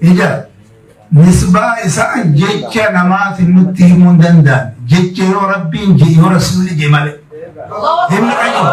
Ija nisbaa isaan jecha namaatiin nutti himuu hin danda'an. Jecha yoo Rabbiin je yoo Rasuulli je malee. Ibnu Qayyim.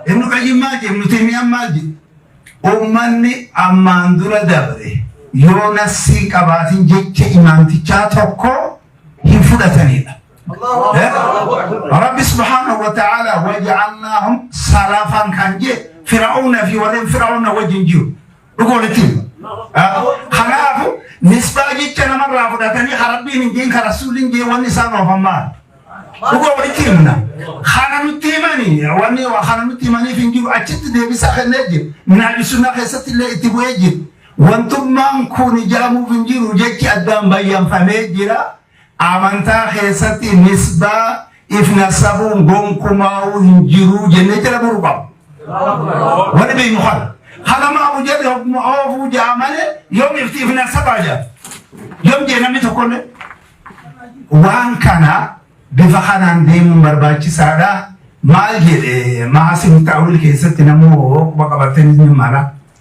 Ibnu Qayyim maal je Ibnu Taymiyyaan maal je ummanni ammaan dura dabre yoo nassii qabaatiin jecha imaamtichaa tokko hin fudhatanidha. Rabbi subhaanahu wa ta'aala waja'alnaahum salafan kan je Fir'aawna fi warreen Fir'aawna wajjin jiru. Dhuga walitti hima. Kanaafu nisbaa jecha namarraa fudhatanii harabbiin hin geenye karasuulli hin geenye wanni isaan oofan maali? Dhuga walitti himna. Kana nutti himanii wanni kana nutti himaniif hin jiru achitti deebisaa kennee jira. Minaaji sunnaa keessatti illee itti bu'ee jira. Wantummaan kun ijaamuuf hin jiru jechi addaan bayyanfamee jira. Amantaa keessatti nisbaa if nasabuun gonkumaa'uu hin jiruu jennee jala muruu qabna. Wani beeknu kana. Kana maafu jedhe hogguma oofuu ja'a malee yoom ifti if nasabaa ja'a. Yoom jee namni tokkollee. Waan kana bifa kanaan deemuun barbaachisaadha. Maal jedhe maasii ta'uun keessatti namoo quba qabatanii ni mala.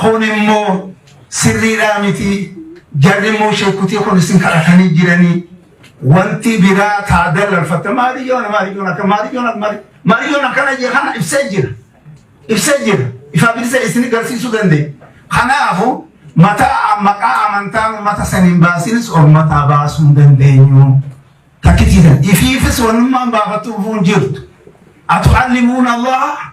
Kun immoo sirriidhaa mitii jarri immoo sheekutii kun isin kadhatanii jiranii wanti biraa taa dallanfatta maariyyoon maariyyoon akka maariyyoon akka maariyyoon akkana jee kana ibsee jira ibsee jira ifaa bilisa isin garsiisuu dandeenye kanaafu mataa maqaa amantaan uummata saniin baasinis uummataa baasuu hin dandeenyu takkitiisan ifiifis wannummaan baafattu hin jirtu atu allimuun allaha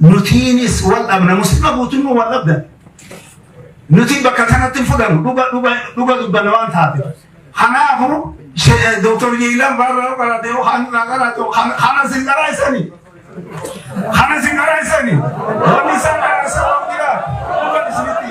Nutiinis wal dhabna musliima guutuun nu wal dhabdan. Nuti bakka kanatti hin fudhannu dhuga dhuga dhuga dubbanna waan taate. Kanaafu Dooktor Jiilaan Baarraa qaraate yoo kaan irraa qaraate kana sin qaraasani. Kana sin qaraasani. Wanni isaan qaraasan waan jira. Dhugan isinitti.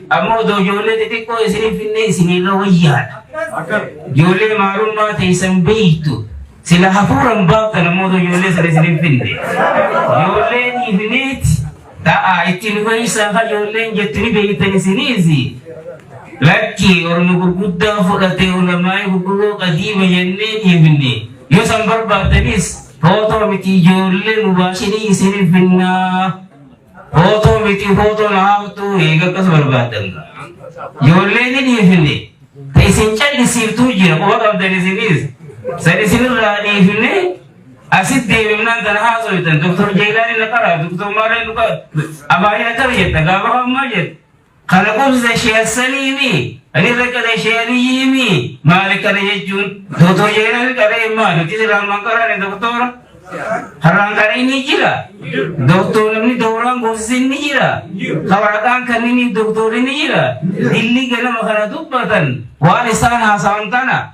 Amma odoo ijoollee xixiqqoo isiniif finnee isiniirra wayyaadha. Ijoollee maalummaa teessan beektu sila hafuuran baaftan amma odoo ijoollee sana isiniif finne. Ijoollee dhiifneet ta'a itti nu geessaa ka ijoolleen jettu ni beektan isiniis. Lakki ormi gurguddaa fudhatee ulamaa'ee gurguroo qadiima jennee dhiifne. Yoo san barbaaddanis footoo miti ijoollee mubaashirii isiniif finnaa. Footoo miti footoo na haamtu eega akkas barbaaddan. Ijoollee ni dhiifne. Ta isin callisiiftuu jira quba qabdan isinis. San isinirraa dhiifne asit deemimnaan tana haasoytan. Doktor Jeelaan inni qaraa, Doktor Maarreen dhugaa. Afaanii akkana jetta, gaafa hammaa jetta. Kana qubse Shee Hassanii mii? Ani irra qale Shee Aliyyii mii? Maali qale jechuun? Dotor Jeeral qale immaa nuti siraan man qaraane doktora? Haraan qale ni jira? Doktor namni dawraan goosisin ni jira? Kawaraqaan kannini doktori ni jira? Dilli ganama kana dubbatan waan isaan haasawan tana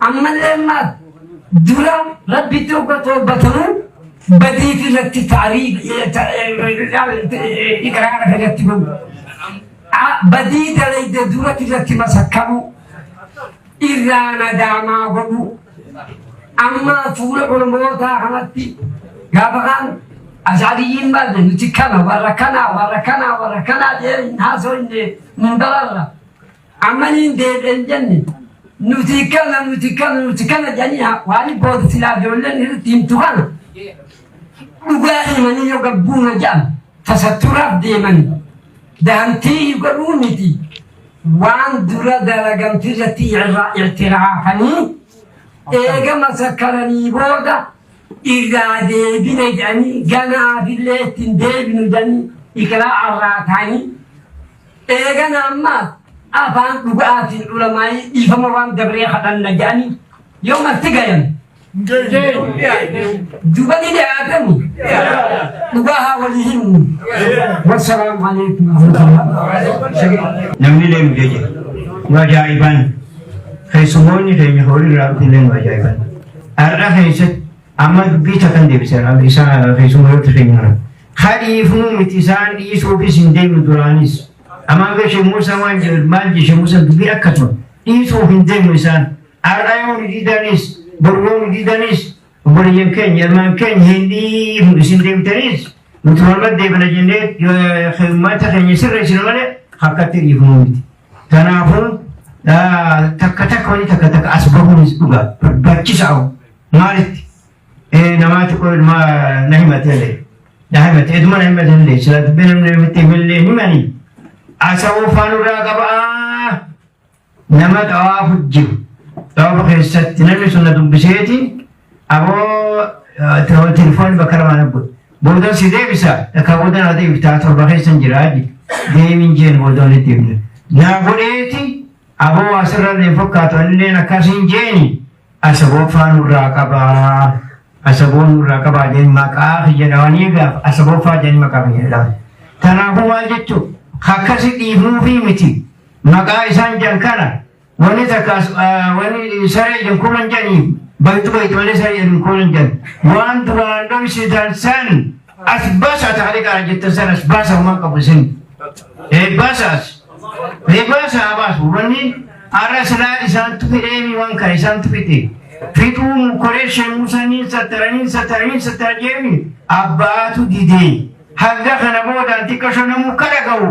Ammallee maaf dura rabbitti ogga toobbatanuu badii fi irratti taarii iqraara irratti godhu. Badii dalayde duratti irratti masakkamu irraa nadaamaa godhu. Amma fuula ormootaa kanatti gaafa kaan asaadiyyiin maal jedhu nuti kana warra kanaa warra kanaa warra kanaa jedhee hin haasofne hin bararra. Amaniin deebi'en jenne nuti kana nuti kana nuti kana jedhanii ha- waan booda silaa ijoolleen irratti himtu kana dhugaa himanii yoo gabbuuna jedhan tasatturaaf deemanii daantii godhuu miti waan dura dalagamti irratti irraa irtiraafanii eega masakkaranii booda irraa deebina jedhanii ganaafillee ittiin deebinu jedhanii iqraa irraa taanii Eegana amma afaan dhugaatiin ulamaa'ii dhiifama waan dabree kadhanna jedhanii yoo marti gayan dubanii dhiyaatani dhugaa haa walii himu. Wassalaamu alaikum warahmatullahi namni illee nu jeje nu ajaa'iban keessumoonni keenya horii irraa dhufnillee nu ajaa'iban har'a keessatti Amma dubbii takkan deebisa isa keessuma irratti keenyara. Ka dhiifnu miti isaan dhiisuufis hin deemnu duraanis. Amma akka ishee Muusaa waan jedhu maal jechee Muusaa dubbii akkasuma dhiisuuf hin deemnu isaan. Har'a yoo nu didanis boru yoo nu didanis obboleeyyan keenya ilmaan keenya hin dhiifnu isin deemtanis nuti waluma deebina jennee uummata keenya sirreessinu malee akkatti dhiifnu miti. Kanaafuu takka takka wani takka takka as bahuunis dhugaa barbaachisaa maalitti ee namaati koo ilma na himatele na himate eduma na himatele sila dubbe namni namitti himille himani asawoo faanurraa qabaa nama xawaafu jiru xawaafu keessatti namni sun na dubbiseeti aboo telefoon bakka lamaan abbo boodan si deebisa akka boodan haa deebiftaa torba keessan jiraa ji deemin jeen boodan itti himne naa godheeti aboo asirra illee fakkaatu illeen akkasiin jeeni Asaboo faa nurraa qabaa Asaboo nurraa qabaa jeen maqaa kiyya dhawanii gaaf Asaboo faa jeen maqaa kiyya dhawan. Tanaafuu maal jechuun akkasi dhiifnuufii miti maqaa isaan jan kana wani takka wani saree jan kunan janii baytu baytu malee saree jan kunan jan waan duraan dhoysitan san As baasa ati haliqaa jettan san as baasa homaa qabu isin. Ee baasa as. Ee baasa haa baasu. Wanni har'a silaa isaantu fidheemi waan kana isaantu fidhe. Fixuun koree sheemusanii sattaranii sattaranii sattara jeemi abbaatu didee. Hanga kana boodaan xiqqasho namuu kadha ga'u.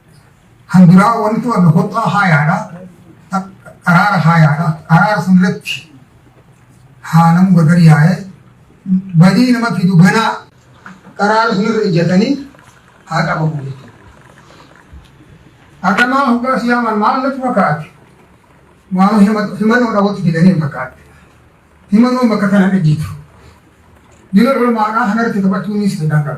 Kan duraa walitti wal hoxxaa haayaadha. Qaraara haayaadha. Qaraara sun irratti haalamu gargar yaa'ee badii nama fidu ganaa qaraara sun irra ijjatanii haa qabamu jechuudha. Argamaa hoggaa siyaaman maal natti fakkaate? Waan himanoo dhawwatti fidanii fakkaate. Himanoo bakka kana dhajiitu. Dina ulamaadhaa kanarratti taphachuunis danda'u.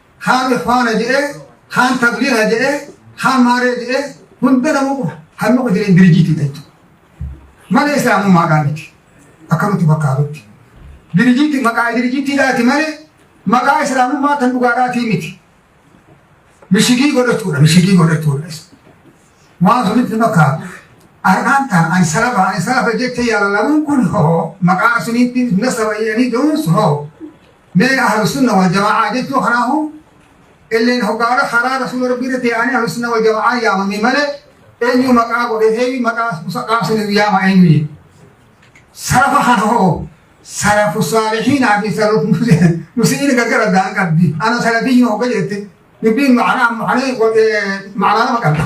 kaan ikhwaana je'e kaan tabliiga je'e kaan maaree je'e hunda namuu qufa hannu qifireen dirijiitii ta'e malee islaamummaa dhaa miti akka nutti fakkaatutti dirijiitii maqaa dirijiitii dhaati malee maqaa islaamummaa tan dhugaa dhaatii miti mishigii godhachuudha mishigii godhachuudha waan sunitti fakkaatu argaan ta'an ani salaba ani salaba jecha yaalamuun kun hoo maqaa suniitti nasaba jedhanii ga'uun sun hoo Mee yaa Ahlu Sunna wal Jama'aa jechuu kanaahu illeen hoggaadha karaa Rasuula Rabbii irratti yaa'anii Ahlu Sunna wal Jama'aa yaamamii malee eenyu maqaa godhe heewi maqaa musaqaa sun yaama eenyu jedhe. Sarafa kana hoo sarafu saalihiinaa fi sarafu musiin gargara daan qabdi. Ana salafiyyu hogga jette bibbiin ma'anaa ma'anaa ma'anaa nama qabda.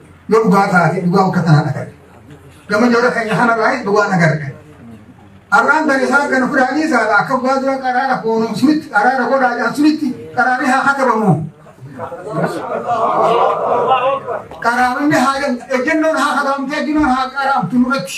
Yoo dhugaa taate dhugaa bakka tanaan agarre. Gama jawra keenya kanarraayis dhugaan agarre. Arraan tan isaan kana fudhaanii isaadha akka bu'aa dura qaraara koonum sunitti qaraara godhaa jaan sunitti qaraarri haa katabamu. Qaraaronni haa ejjennoon haa katabamtee ejjennoon haa qaraamtu nurratti.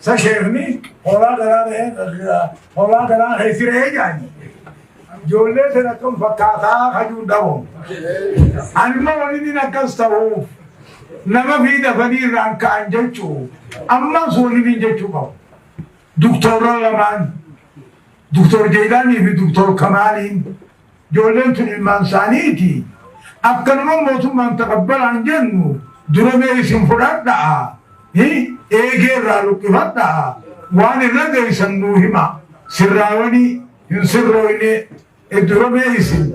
Sa sheekni hoolaa garaa ta'ee hoolaa garaa keessi re'ee jaani. Ijoollee sana akkam fakkaataa kajuun dhabu. Anuma waliin akkas ta'uuf nama fi dafanii irraan ka'an jechuu ammas waliin jechuu qabu. Doktorra lamaan Doktor Jeelaanii fi Doktor Kamaaliin Ijoolleen tun ilmaan isaaniiti. Akkanuma mootummaan taqabbalaan jennu dura mee isin fudhadha'a. Eegee irraa luqqifadha'a. Waan irra geessan nuu himaa. Sirraawanii hin sirrooynee dura mee isin.